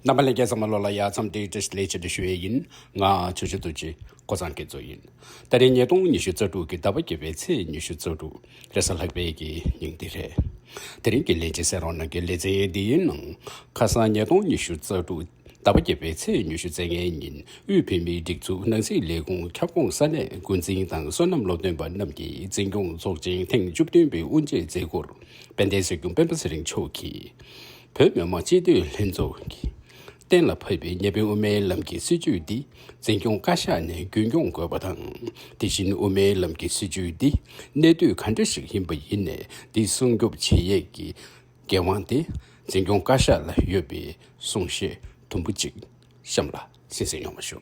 རྣམ་པ་ལས་སྐལ་བཟང་མ་ལོ་ལ་ཡག་མཚམས་དེའི་བཀྲིས་ལེགས་ཆེད་དུ་ཞུ་ཡས་ཡིན། ང་ཆུ་ཆུ་རྡོ་རྗེ། ཀོ་ཚང་གི་ཛོ་ཡིན། ད་རེས་ཉིས་སྟོང་ཉི་ཤུ་རྩ་དྲུག་གི་ཟླ་བ་བརྒྱད་པའི་ཚེས་ཉི་ཤུ་རྩ་དྲུག་རེས་གཟའ་ལྷག་པའི་གི་ཉིན་འདི་རེད། དེ་རིང་གི་ལས་བྱེད་སེར་རོང་ནང་གི་ལས་ཚན་འདི་ཡི་ནང་ཁ་སང་ཉིས་སྟོང་ཉི་ཤུ་རྩ་དྲུག་ཟླ་བ་བརྒྱད་པའི་ཚེས་ཉི་ཤུ་རྩ་ལྔའི་ཉིན་དབུས་བོད་མིའི་སྒྲིག་འཛུགས་ནང་སྲིད་ལས་ཁུངས་ཁྱབ་ཁོངས་ས་གནས་འགོ་འཛིན་དང་བསོད་ནམས་སློབ་སྟོན་པ་རྣམས་ཀྱི་འཛིན་སྐྱོང་ཚོགས་ཆེན་ཐེངས་བཅུ་བདུན་པའི་དབུ་འབྱེད་མཛད་སྒོར་དཔལ་ལྡན་སྲོལ་རྒྱུན་སྤེན་པ་ཚེ་རིང་མཆོག་གིས། བོད་མི་མང་སྤྱི་འཐུས་ལྷན་ཚོགས་ཀྱིས་གཏན་ལ་ཕབ་པའི་གཉའ་གནོན་དབུ་མའི་ལམ་གྱི་སྲིད་བྱུས་འདི་འཛིན་སྐྱོང་བཀའ་ཤག་ནས་རྒྱུན་སྐྱོང་དགོས་པ་དང། དེ་བཞིན་དབུ་མའི་ལམ་གྱི་སྲིད་བྱུས་འདི་གནད་དུ་ག་འདྲ་ཞིག་ཡིན་པ་ཡིན་ནས་འདི་སྲུང་སྐྱོབ་བྱེད་ཡས་ཀྱི་འགན་དབང་དེ་འཛིན་སྐྱོང་བཀའ་ཤག་ལ་ཡོད་པའི་གསུང་བཤད་དུམ་བུ་གཅིག་གཤམ་ལ་གསན་གསན་ཡོང་བ་ཞུ།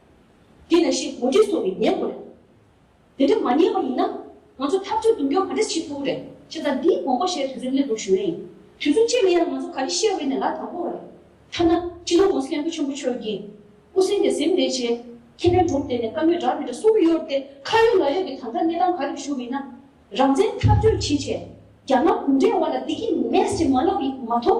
དེ་ནས་ཤེས་གོང་འདྲི་སོགས་ཀྱིས་ཉན་དགོས་རེད། དེ་འདྲ་མ་ཉན་པ་ཡིན་ན། ང་ཚོ་ཐབས་བྱུས་རྡུང་སྐྱོན་ག་འདྲ་བྱེད་ཐུབ་རེད། ཞེས་དང་འདིའི་དགོངས་པ་བཞེས་དུས་ཚོད་སླེབས་འདུག་ཞུ་ཡ་ཡིན། དུས་ཚོད་བཅད་ནས་ཡང་ང་ཚོ་ག་རེ་བཤད་འོས་ནས་ལ་དྭགས་པོ་བ་རེད། ཐ་ན། སྤྱི་ནོར་ཝུན་སི་ལེན་ཕུ་ཆེན་པོ་ཆོས་ཀྱི། སྐུ་སེང་གི་གཟིམས་ལས་བྱེད། ཁེ་ཕན་སྒྲུབ་བསྡད་ནས་བཀའ་མོས་དྲག་མི་དྲག་གསུམ་གཡོར་ཏེ་ཁ་ཡོད་ལག་ཡོད་ཀྱི་དམ་དྲག་གནས་སྟངས་ག་རེ་བཞུགས་མིན་ན། རང་བཙན་འཐབ་རྩོད་ཕྱིན་ཆད། རྒྱ་ནག་གུང་ཁྲན་བ་ལ་འདི་ཀྱི་ནད་ཅིག་མ་ལབ་ཡི་མ་ཐོབ།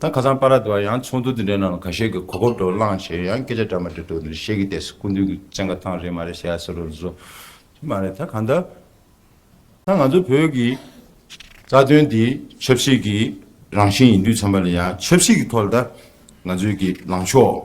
ད་ཁ་སང་པ་ར་དེ་བ་ཡང་ཚོགས་འདུ་དེ་འདྲའི་ནང་ལ་ག་ཤེད་ཀྱི་གོ་སྐབས་འགྲོ་བླངས་ཞེས་ཡང་སྐད་ཆ་འདྲ་མ་འདྲ་འདུག་འདིར་བཤད་ཀྱི་ལྟས་སུ་སྐུ་མདུན་གྱི་བཙན་བཀའ་ཐང་རེད་མ་རེད་ཞེས་ཟེར་རོགས་མཛོད། དེ་མ་རེད་ད་ག་འདྲ་ད་ང་ཚོ་བོད་ཀྱི་རྩ་དོན་དེ་ཆབ་སྲིད་ཀྱི་རང་བཞིན་ཡིན་དུས་ཚང་མ་ལ་ཡང་ཆབ་སྲིད་ཀྱི་ཐོག་ལ་ད་ང་ཚོའི་ཀྱི་ལངས་ཕྱོགས།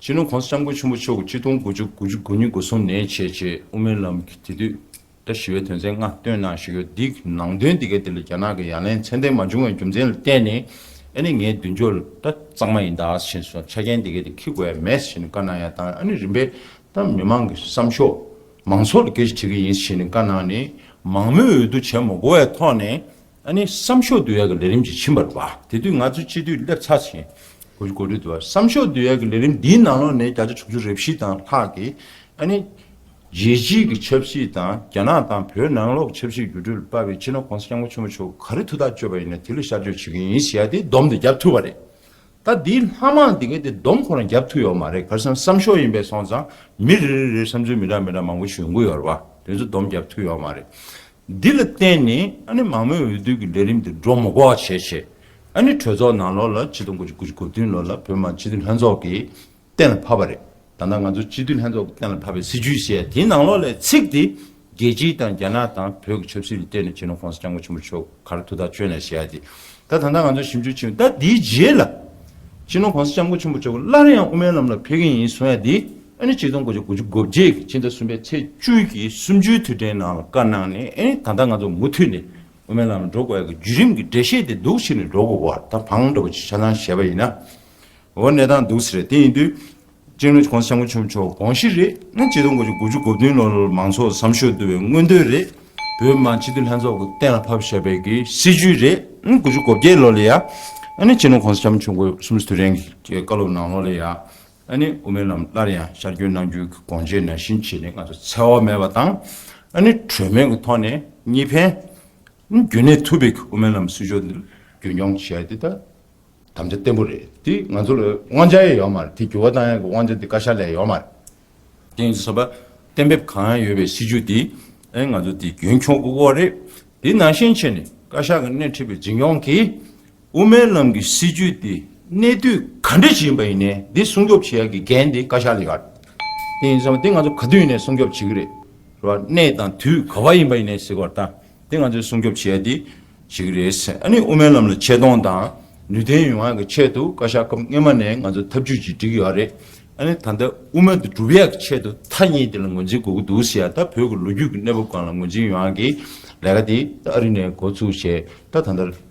སྤྱི་ནོར ྋགོང་ས ྋསྐྱབས་མགོན་ཆེན་པོ་མཆོག་གིས་ཆིག་སྟོང་དགུ་བཅུ་དགུ་བཅུ་དགུ་ཉིན་སྒོ་སྲུང་ནས་བྱེད་ཅེས་དབུ་མའི་ལམ་གྱི་དེ་དུས་ཟླ་བཞི་བའི་དོན་ཚན་ལྔ་བཏོན་གནང་ཞུས་ཡོད་འདི་ནང་དོན་འདི་གའི་དེ་ལ་རྒྱ་ནག་གི་ཡ་ལན་མཚན་ལྡན་མ་བྱུང་བའི་རྒྱུ་མཚན་ལ་བརྟེན་ནས་ཨ་ནི་ངའི་མདུན་ཅོག་ལ་ད་གཙང་མ་ཡིན་ད་ཞེས་སོགས་ཆ་རྐྱེན་འདི་གའི་དེ་ཁིག་གོ་ཡ་མེད་ཞེས་ནས་བཀའ་གནང་ཡང་དང་ཨ་ནི་རིམ་པས་ད་མི་མང་གི་བསམ་ཤོག་མང་ཚོགས་ལ་སྐད་ཆ་དྲི་གི་ཡིན་ཞེས་ནས་བཀའ་གནང་ནས་མང་མོས་འོས་བསྡུ་བྱས་མ་གོ་བའི་ཐོག་ནས། ཨ་ནི་བསམ་ཤོག་བསྡུ་ཡག་གི་ལས་རིམ་ཅིག་ཕྱིན་པར་བ། དེ་དུས་ང་ཚོས་སྤྱི་འཐུས་སླེབས་ཚར་ཟིན། གོ་གོ་རེད་འདུག་བ། བསམ་ཤོག་བསྡུ་ཡག་གི་ལས་རིམ་འདིའི་ནང་ལོག་ནས་བརྒྱ་ཆ་དྲུག་ཅུ་རེ་བཞི་དང་ལྷག་གིས་ཨ་ནི། རྒྱལ་སྤྱིའི་གི་ཆབ་སྲིད་དང་རྒྱ་ནག་དང་བོད་ནང་ལོག་ཆབ་སྲིད་འགྱུར་འགྲོས་ལ་དཔའ་བའི་སྤྱི་ནོར ྋགོང་ས་སྐྱབས་མགོན་ཆེན་པོ་མཆོག་གིས་ག་རེ་ཐུགས་ཐག་གཅོད་པ་ཡིན་ན་དེ་ལ་ཤར་བསྐྱོད་བྱེད་ཀྱི་ཡིན་ཟེར་ཡ་དེ་བསྡོམས་དེ་བརྒྱབ་ཐུབ་པ་རེད། ད་འདིའི་ལྷ་མང་དེ་གས་དེ་བསྡོམས་ཁོ་རང་བརྒྱབ་ཐུབ་ཡོད་མ་རེད་གར་སོང་བསམ་ཤོག་ཡིན་པས་སོང་ཙང་མི་རེ་རེ་རེར་བསམ་ཚུལ་མི་འདྲ་མི་འདྲ་མང་པོ་ཞུ་དགོས་ཡོད་རེད་བ། དེ་ཚོ་བསྡོམས་བརྒྱབ་ཐུབ་ཡོད་མ་རེད། འདི་ལ་བརྟེན་ནས་ཨ་ནི་མང་མོས་འོས་བསྡུ་གི་ལས་རིམ་དེ་འགྲོ་མགོ་བར་བྱས་རྗེས། ཨ་ནི་གྲོས་ཚོགས་ནང་ལོ་ལ་སྤྱི་སྟོང་དགུ་བཅུ་དགུ་བཅུ་གོ་བདུན་ལོ་ལ་བོད་མང་སྤྱི་འཐུས་ལྷན་ཚོགས་ཀྱི་གཏན་ལ་ཕབ་པ་རེད། ད་ལྟ་ང་ཚོ་སྤྱི་འཐུས་ལྷན་ཚོགས་ཀྱི་གཏན་ལ་ཕབ་པའི་སྲིད་བྱུས་ཞེས་དེའི་ནང་ལོ་ལ་ཚིག་དེ་རྒྱལ་སྤྱི་དང་རྒྱ་ནག་དང་བོད་ཀྱི་ཆབ་སྲིད་ལ་བརྟེན་ནས་བྱས་ནོ་ཁོང་ས་སྐྱབས་མགོན་ཆེན་པོ་མཆོག་གར་ཐུགས་ཐག་གཅོད་ནས་ཞེས་ཡ་དེ་ད་ད་ལྟ་ང་ཚོ་ཞིབ་འཇུག་བྱེད་ད་དེའི་རྗེས་ལ་བྱས་ནོ་ཁོང་ས་སྐྱབས་མགོན་ཆེན་པོ་མཆོག་སླར་ཡང་དབུ་མའི་ལམ་ལ་ཕེབས་ཀྱི་ཡིན་གསུང་ཡ་དེ་ཨ་ནི་སྤྱི་སྟོང་དགུ་བཅུ་དགུ་ཅུ་དགུ་བརྒྱད་ཀྱི་ཕྱི་ཟླ་གསུམ་པའི་ཚེས་བཅུ་ཀྱི་གསུམ་བཅུའི་དུས་དྲན་ནང་ལ་བཀའ་གནང་ནས་ཨ་ནི་ད་ལྟ་ང་ཚོ་མུ་མཐུད་ནས་དབུ་མའི་ལམ་ལ་འགྲོ་དགོས་ཡ་གི་བརྒྱུད་རིམ་གྱི་འགྲེལ་བཤད་དེ་སྡུག་ཕྱིར་ནས་འགྲོ་དགོས་བར་ད་བང་སྒྲོག་པ་ཅིག་ཆ་ཚང་བཞེས་པ་ཡིན། འོ་གནས་སྟངས་སྡུག་ས་རེད་དེ་ཡིན་དུས་ཅིང་ལོ་གོང་ས་སྐྱབས་མགོན་ཆུང་མཆོག་དགོངས་གཞི་རེད་ཨ་ནི་སྤྱི་སྟོང་དགུ་བཅུ་དགུ་ཅུ་དགུ་བདུན་ལོར་མང་ཚོགས་བསམ་ཤོག་བསྡུ་བའི་མངོན་འདོད་རེད་བོད་མི་མང་སྤྱི་འཐུས་ལྷན་ཚོགས་ཀྱི་གཏན་ལ་ཕབ་བཞེས་པའི་གི་སྲིད་ཇུས་རེད་ཨ་ནི་དགུ་བཅུ་གོ་བརྒྱད་ལོ་ལ་ཡ་ཨ་ནི་སྤྱི་ལོ་གོང་ས་སྐྱབས་མགོན་ཆུང་མཆོག་གསུམ་བཅུ་དུས་དྲན་གྱི་བཀའ་སློབ་གནང་ལོ་ལ་ཡ་ཨ་ནི་དབུ་མའི་ལམ་སླར་ཡང་ཤར་བསྐྱོད་གནང་རྒྱུའི་དགོངས་དཔྱད་ནན་བཞིན་བྱས་ནས་ང་ཚོ་འཚེ་བ་མེད་པ་དང། ཨ་ནི་གྲོས་མོལ་གྱི་ཐོག་ནས་གཉིས་ཕན། རྒྱུན་གནས་ཐུབ་པའི་དབུ་མའི་ལམ་སྲིད་ཕྱོགས་འདི་རྒྱུན་སྐྱོང་བྱེད་རྒྱུ་དེ་དམ་བཅའ་བརྟན་པོ་རེད། དེ་ང་ཚོ་ལ་དབང་ཆ་ཡང་ཡོད་མ་རེད། དེ་འགྱུར་བ་གཏང་ཡག་གི་དབང་ཆ་དེ་བཀའ་ཤག་ལས་ཡོད་མ་རེད། དེ་ཡིན་ཟེར་བ་གཏན་འབེབས་གང་ཡང་ཡོད་པའི་སྲིད་ཇུས་དེ་ཨེ་ང་ཚོ་དེ་རྒྱུན་འཁྱོངས་དགོས་སྐོར་རེད། དེ་ནང་བཞིན་བྱས་ནས་བཀའ་ཤག་གི་སྣེ་ཁྲིད་པའི་འཛིན་སྐྱོང་གིས། དབུ་མའི་ལམ་གྱི་སྲིད་བྱུས་དེ་གནད་དུ་ག་འདྲ་ཞིག་ཡིན་པ་ཡིན་ནའི་འདི་སྲུང་སྐྱོབ་བྱེད་ཡག་གི་འགན་དེ་བཀའ་ཤག་ལས་ཀ་དེ་ཡིན་བསམ་པ་དེ་ང་ཚོ་ག་དུས་ནས་སྲུང་སྐྱོབ་བྱེད་ཀྱི་རེད་རེད་བ་གནད་དང་དུས་ག་བ་ཡིན་པ་ཡིན་ནའི་ཟེར་བ་ལྟ་དེ་ང་ཚོས་སྲུང་སྐྱོབ་བྱེད་ཡག་དེ་བྱེད་ཀྱི་རེད་ཨ་ནི་དབུ་མའི་ལམ་ལ་ཆེ་མཐོང་དང་ནུས་ལྡན་ཡོང་ཡག་གི་ཆེད་དུ་བཀའ་ཤག་སྐབས་སྔན་མ་ནས་ང་ཚོ་ཐབས་བྱུས་ཅིག་སྒྲིག་ཡག་རེད་ཨ་ནི་ད་ལྟ་དབུ་མ་དེ་འགྲུབ་ཡག་གི་ཆེད་དུ་ཐ་སྙད་དེ་ལ་ངོས་འཛིན་དགོས་ཀྱི་འདུག་ཟེར་ཡག་ད་བོད་ཀྱི་ལོ་རྒྱུས་ཀྱི་གནས་བབ་གང་ལ་ངོས་འཛིན་ཡོང་ཡག་གི་ལས་ཀ་དེ་ཨ་རི་ནས་འགོ་ཚུགས་བྱས་ད་ད་ལྟ་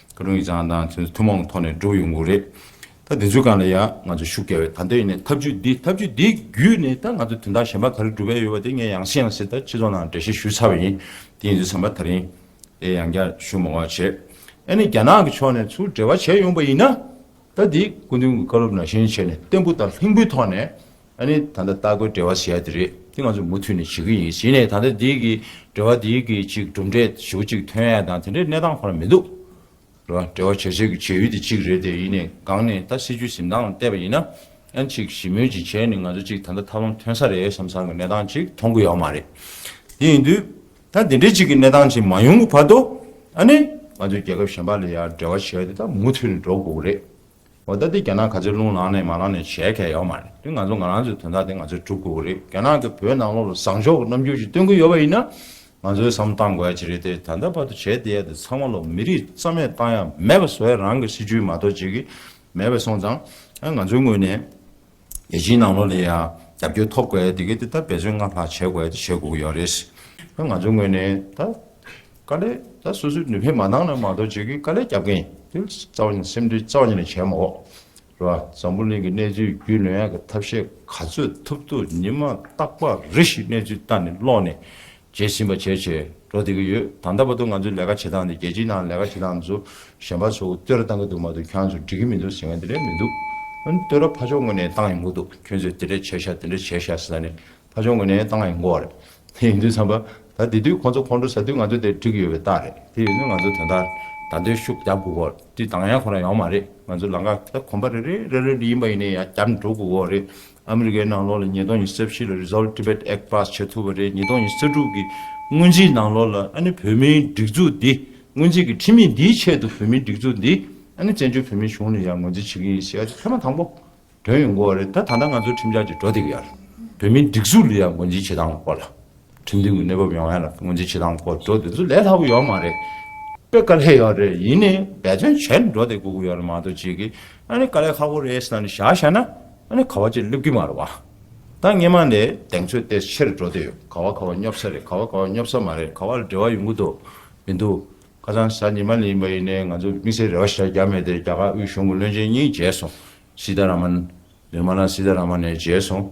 ཀ་རུང་ཡིག་ཚང་དང་མཚོན་ཚུལ་ཐུན་མོང་གི་ཐོག་ནས་འགྲོ་ཡོང་གི་རེད། ད་དེ་ཚོའི་སྒང་ལ་ཡང་ང་ཚོ་ཤུགས་རྒྱག་འོས། ད་ལྟ་ཡིན་ནའི་ཐབས་ཇུས་འདི་ཐབས་ཇུས་འདི་བརྒྱུད་ནས་ད་ང་ཚོ་དོན་དག་གཞན་པ་ག་རེ་འགྲུབ་འོས་ཡོད་པ་དེ་ངས་ཡང་བཤད་ཡང་བཤད་ད་སྤྱི་ཚོགས་ནང་འགྲེལ་བཤད་ཞུས་ཚར་བ་ཡིན། དེ་ཡིན་ཚུལ་ཚང་མ་ད་རིང་ལས་ཡང་བསྐྱར་ཞུ་མང་བར་བྱེད། ཨ་ནི་རྒྱ་ནག་གི་ཕྱོགས་ནས་ཚུར་འབྲེལ་བ་བྱས་ཡོང་པ་ཡིན་ན། ད་འདི་སྐུ་མདུན་གྱི་བཀའ་སློབ་ནང་བཞིན་བྱས་ནས་བརྟན་པོ་དང་ལྷིང་པོའི་ཐོག་ནས་ཨ་ནི་ད་ལྟ་ལྟ་སྒོའི་འབྲེལ་བ་ཞེས་ཡ་དེ་རེད་དེ་ང་ཚོས་མུ་མཐུད་ནས་བྱེད་ཀྱི་ཡིན་ཞེས་ནས་ད་ལྟ་དེའི་གི་འབྲེལ་བ་དེའི་གི་གཅིག་གྲུབ་འབྲས་ཞེ་བོ་གཅིག་ཐོན་ཡ་དང་དེ་འདྲའི་གནས་སྟངས་ཁོ་ན་མི་འདུག་རེད་བ་འབྲེལ་བ་བྱེད་བྱེད་གི་བྱེད་ཡུལ་དེ་གཅིག་རེད་དེ་ཡིན་ནས་སྒང་ནས་ད་སྲིད་ཇུས་ཟིན་སྟངས་ལ་བལྟས་པ་ཡིན་ན་ཨ་ནི་ཅིག་ཞི་མོལ་ཅིག་བྱས་ནས་ང་ཚོ་ཅིག་ད་ལྟ་ཐབས་ལམ་ཐོན་ས་རེད་བསམ་སར་གི་གནས་སྟངས་ཅིག་མཐོང་གི་ཡོད་མ་རེད་དེ་ཡིན་དུས་ད་དེ་འདྲའི་ཅིག་གི་གནས་སྟངས་ཅིག་མ་ཡོང་གི་བར་དུ་ཨ་ནི་ང་ཚོས་རྒྱལ་ཁབ་གཞན་པ་ལ་ཡར་འབྲེལ་བ་བྱེད་ཡ་དེ་ད་མུ་མཐུད་ནས་འགྲོ་དགོས་གི་རེད། འོ་ད་དེ་རྒྱ་ནག་ག་ཚོད་རླུང་ལངས་ནས་མ་ལངས་ནས་བྱས་ཁས་ཡོད་མ་རེད་དེ་ང་ཚོ་ང་རང་ཚོའི་དོན་དག་དེ་ང་ཚོས་གྲུབ་དགོས་ཀྱི་རེད་རྒྱ་ནག་གི་བོད་ནང་ལོགས་ལ་བཟང་ཕྱོགས་ཀྱི་རྣམ་འགྱུར་ཞིག་སྟོན་གྱི་ཡོད་པ་ཡིན་ན་ང་ཚོས་བསམ་བཏང་དགོས་ཀྱི་རེད་དེ་ད་ལྟ་བར་དུ་བྱས་བསྡད་ཡ་དེ་ཚང་མ་ལོགས་མི་རིགས་རྩ་མེད་བཏང་ཡ་མེད་པ་བཟོ་ཡ་རང་གི་སྲིད་བྱུས་མ་གཏོགས་བྱེད་ཀྱི་མེད་པ་སོང་ཙང་ང་ཚོའི་ངོས་ནས། རྒྱལ་སྤྱིའི་ནང་ལོགས་ལ་ཡང་རྒྱབ་སྐྱོར་ཐོབ་དགོས་དེ་གས་དེ་ལྟར་འབད་བརྩོན་སྔར་ལྷག་བྱེད་དགོས་དེ་བྱེད་དགོས་ཀྱི་ཡོད་རེད། ད་ང་ཚོའི་ངོས་ནས་ད་དཀའ་ལས་ད་སོ་སོའི་ནུས་ཕན་མ་འདང་ན་མ་གཏོགས་བྱེད་ཀྱི་དཀའ་ལས་རྒྱབ་མཁན་དེ་རྩ་བ་ཉིད་སེམས་ཁྲལ་རྩ་བ་ཉིད་ལས་བྱས་མ་འོག་རེད་བ། འཛམ་བུ་གླིང་གི་གནས་ཚུལ་རྒྱུས་ལོན་ཡག་གི་ཐབས་ཤེས་ག་ཚོད་ཐུབ་ཐུབ་ཉིན་མ་ཏག་པ་རེ་ཞིག་གནས་ཚུལ་ལྟ་ནས་ཀློག་ནས་བྱེད་བཞིན་པ་ཇེ་ཆེར་འགྲོ་བསྡད་ཀྱི་ཡོད། ད་ལྟ་བར་དུ་ང་ཚོས་ལས་ཀ་བྱེད་སྟངས་དེ་རྒྱལ་སྤྱིའི་ནང་ལས་ཀ་བྱེད་སྟངས་སུ་གཞན་པ་ཚོ་བསྟོད་ར་བཏང་གི་འདུག་མ་འདུག་ཁྱོད་ཚོ་འགྲིག་གི་མི་འདུག་ཟེར་མཁན་དེ་འདྲ་མི་འདུག། བསྟོད་ར་ཕ་ཕྱོགས་ངོས་ནས་བཏང་ཡོང་གི་འདུག་ཁྱོད་ཚོས་དེ་འདྲ་བྱས་ཤག་དེ་འདྲ་བྱས་ཤག་ཟེར་ན་ནི་ཕ་ཕྱོགས་ངོས་ནས་བཏང་ཡོང་གི་འོ་རེད། དེ་ཡིན་དུས་བསམ་པ། ད་དེ་དུས་ཁོང་ཚོ་ཁོང་ཁྲོ་ཟ་དུས་ང་ཚོ་དེར་འགྲིག་གི་ཡོད་པའི་རྟགས་རེད། དེ་ཡིན་དུས་ང་ཚོ་དོན་དག་ད་འདོད་ཤུགས་རྒྱག་དགོས་གི་འོ་རེད། དུས་དང་ཡང་ཁོ་རང་ཡོང་མ་རེད། ང་ཚོ་ལང་ཀ་དེ་དག་གོམ་པ་རེ་རེ་རེ་རེ་ལ་ཡིན་པ་ཡིན་ནའི་ཡང་བརྒྱབ་འགྲོ་དགོས་གི་འོ་རེད། ཨ་མི་རི་ཀའི་ནང་ལོགས་ལ་ཉིས་སྟོང་ཉི་ས་བཞི་ལ Resolve Tibet Act pass བྱེད་ཐུབ་པ་རེད་ཉིས་སྟོང་ཉི་ས་དྲུག་གི་སྔོན་རྩིས་ནང་ལོགས་ལ་ཨ་ནི་བོད་མིའི་སྒྲིག་འཛུགས་འདི་སྔོན་རྩིས་ཀྱི་ཁྲིམས་མིས་འདིའི་ཆེད་དུ་བོད་མིའི་སྒྲིག་འཛུགས་འདི་ཨ་ནི་བཙན་བྱོལ་བོད་མིའི་གཞུང་ནས་ཡང་ངོས་འཛིན་བྱེད་ཀྱི་ཡིན་ཟེར་ཡ་ཆ་ཚད་མ་དང་པོ་དོན་ཡོང་གོ་བ་རེད་ད་ད་ལྟ་ང་ཚོའི་ཁྲིམས་འཆར་གྱི་འགྲོ་སྟེགས་ཡར་བོད་མིའི་སྒྲིག་འཛུགས་ལ་ཡང་ངོས་འཛིན་བྱེད་སྟངས་གོ་ལ་ཁྲིམས་མཐུན་གྱི་གནས་བབ་ཡོང་ཡ་ལ་ངོས་འཛིན་བྱེད་སྟངས་སྐོར་འགྲོ་དེ་ཚོ་ལས་སླ་པོ་ཡོད་མ་རེད། དཔེ་དཀའ་ལས་ཡོད་རེད་ཡིན་ནའི་འབད་བརྩོན་བྱས་ནས་འགྲོ་དེ་དགོས་ཀྱི་ཡོད་ལ་མ་གཏོགས་ཅིག་གིས་ཨ་ནི་དཀའ་ལས་ཁག་པོ་རེད་ཟེར་ནས་བཞག་བཞག་ན་ཨ་ནི་ག་བ་ཅིག་སླེབས་ཀྱི་མ་རེད་བ། ད་སྔས་མ་ནས་གདེང་ཚོད་དེ་ཕྱིར་འགྲོ་དེ་ཡོད་ག་བ་ག་བ་སྙོབ་ས་རེད་ག་བ་ག་བ་སྙོབ་ས་མ་རེད་ག་བ་ལ་འབྲེལ་བ་ཡོང་གི་འདུག་མི་འདུག་ཁ་སང་གཟའ་ཉི་མ་ལ་ཡིན་པ་ཡིན་ནའི་ང་ཚོ་དམིགས་བསལ་རེ་བ་ཞག་བརྒྱ་མེད་དེ་རྒྱ་གར་དབུས་གཞུང་གི་བློན་ཆེན་གཉིས་མཇལ་སོང་སིད་ད་ར་མན། Nirmala Sitharaman། མཇལ་སོང།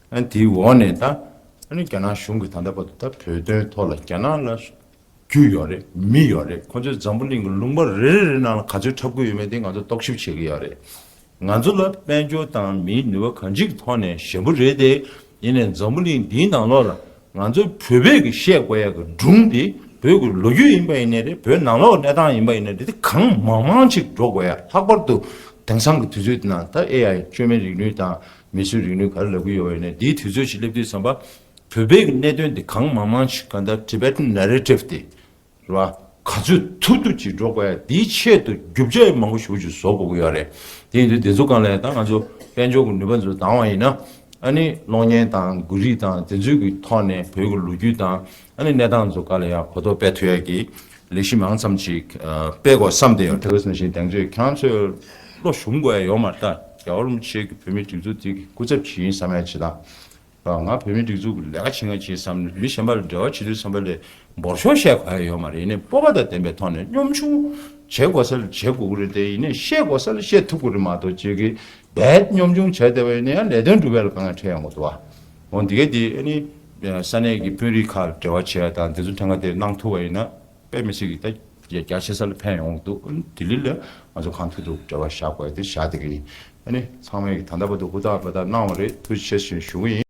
དེའི་འོག་ནས་ད་ནི་རྒྱ་ནག་གཞུང་གིས་ད་ལྟ་བར་དུ་ད་བོད་དོན་ཐོག་ལ་རྒྱ་ནག་ལ་རྒྱུ་ཡོད་རེད་མི་ཡོད་རེད་ཁོ་ཚོས་འཛམ་བུ་གླིང་གི་ལུང་པ་རེ་རེ་རེ་ནང་ལ་ག་ཚོད་འཁྲབ་དགོས་ཡོད་མེད་དེ་ང་ཚོ་རྟོག་ཞིབ་བྱེད་ཀྱི་ཡོད་རེད། ང་ཚོ་ལ་དཔལ་འབྱོར་དང་མིའི་ནུས་པ་གང་ཅིའི་ཐོག་ནས་ཞན་པོ་རེད་དེ། ཡིན་ནས་འཛམ་བུ་གླིང་འདིའི་ནང་ལོགས་ལ་ང་ཚོའི་བོད་བོད་ཀྱི་བཤད་བསྒོ་ཡག་གི་སྒྲུང་དེ་བོད་ཀྱི་ལོ་རྒྱུས་ཡིན་པ་ཡིན་ནའི་རེད་བོད་ནང་ལོག་གནས་སྟངས་ཡིན་པ་ཡིན་ནའི་རེད་དེ་གང་མང་མང་ཅིག་སྒྲོག་དགོས་ཡ་ལྷག་པར་དུ་དེང་སང་གི་དུས་ཚོད་འདི་ནང་ད་ཨེ་ཡ་བཅོས་མའི་རིག་ནུས་དང་མི་སུའི་རིག་ནུས་ག་རེ་ལབ་གི་ཡོད་པ་ཡིན་ནའི་དེའི་དུས་ཚོད་ཅིག་སླེབས་དུས་བསམ་པ་བོད་བོད་ཀྱི་གནད་དོན་དེ་གང་མང་མང་ཅིག་གང་ལྟར Tibetan Narrative དེ། ལ། ག་ཚོད་ཐུབ་ཐུབ་ཅིག་འགྲོ་དགོས་ཡ་དེའི་ཆེད་དུ་རྒྱུ་བཅས་མང་པོ་ཞུགས་ཅིག་བཟོ་དགོས་ཀྱི་ཡོད་རེད་དེ་ཡིན་དུས་བདེ་འཚོ་གང་ལེགས་དང་ང་ཚོ་དཔལ་འབྱོར་གྱི་ནུས་པ་འཛུགས་དང་བ་ཡིན་ན། ཨཱ་ནི་གློག་བརྙན་དང་མགུར་རིས་དང་དེ་ཚོའི་གྱི་ཐོག་ནས་བོད་ཀྱི་ལོ་རྒྱུས་དང་ཨཱ་ནི་གནས་སྟངས་ཚོ་ག་ལ་ཡ་གོ་ཐོག་སྤེལ་ཐུབ་ཡ་གྱི་ལས་གཞི་མང་ཙམ་ཅིག་སྤེལ་དགོས་བསམ་ཏེ། དེ་བས་སམ་ཞིང་གདན་ཚོས་ཁྱང་ཚོས་བློ་ཞུམ་དགོས་ཡ་ཡོད་མ་རྟ་རྒྱ་བོར་མ་ཆེ་གྱི་བོད་མི་སྒྲིག་འཛུགས་དེ་གྱི་སྐུ་ཚབ་ཅིག་ཡིན་བསམ་ཡ་ཇི་ལྟ་ང་བོད་མིའི་སྒྲིག་འཛུགས་ཀྱི་ལས་ཀ་བྱེད་ང་བྱེད་བསམ་ནས་མི་གཞན་པ་ལ་འབྲེལ་བ་བྱེད་དུས་བསམ་པ་ལས་འབོར་ཆུང་བཤད་ག་ཡ་ཡོད་མ་རེད་ནས་སྤོབས་པ་དང་ལྡན་པའི་ཐོག་ནས་གཉོམ་ཆུང་བྱེད་དགོས་ས་ལ་བྱེད་དགོས་ཀྱི་རེད་དེ་ཡིན་ནས་བཤད་དགོས་ས་ལ་བཤད་ཐུབ་ཀྱི་རེད་མ་གཏོགས་ཇི་གི་རྦད་གཉོམ་ཆུང་བྱས་བསྡད་པ་ཡིན་ན་ཡང་ལས་དོན་སྒྲུབ་ཡ་ལ་དཀའ་ངལ་འཕྲད་ཡོང་གི་འདུག་བ། འོན་ཏེ་གལ་ཏེ་ཨ་ནི་ས་གནས་ཀྱི་དཔོན་རིགས་ཁག་ལ་འབྲེལ་བ་བྱེད་ཡ་དང་དེ་ཚོ་ཐེངས་ཁ་དེ་གནང་ཐུབ་བ་ཡིན་ན། པད་མི་སི་གིས་ད་རྒྱ་ཆེ་ས་ལ་ཕན་ཡོང་གི་འདུག་ལྡི་ལི་ལ་ང་ཚོ་གང་ཐུག་ཐུག་བྲེལ་བ་བཞག་དགོས་དེ་བཞག་དེ་གི་ཡིན་ཨ་ནི་ཚང་མས་གི་ད་ལྟ་བར་དུ་ཧུར་ཐག་འབད་ཐག་གནང་བ་རེད་ཐུགས་རྗེ་ཆེ་ཞེས་ཞུ་གི་ཡིན།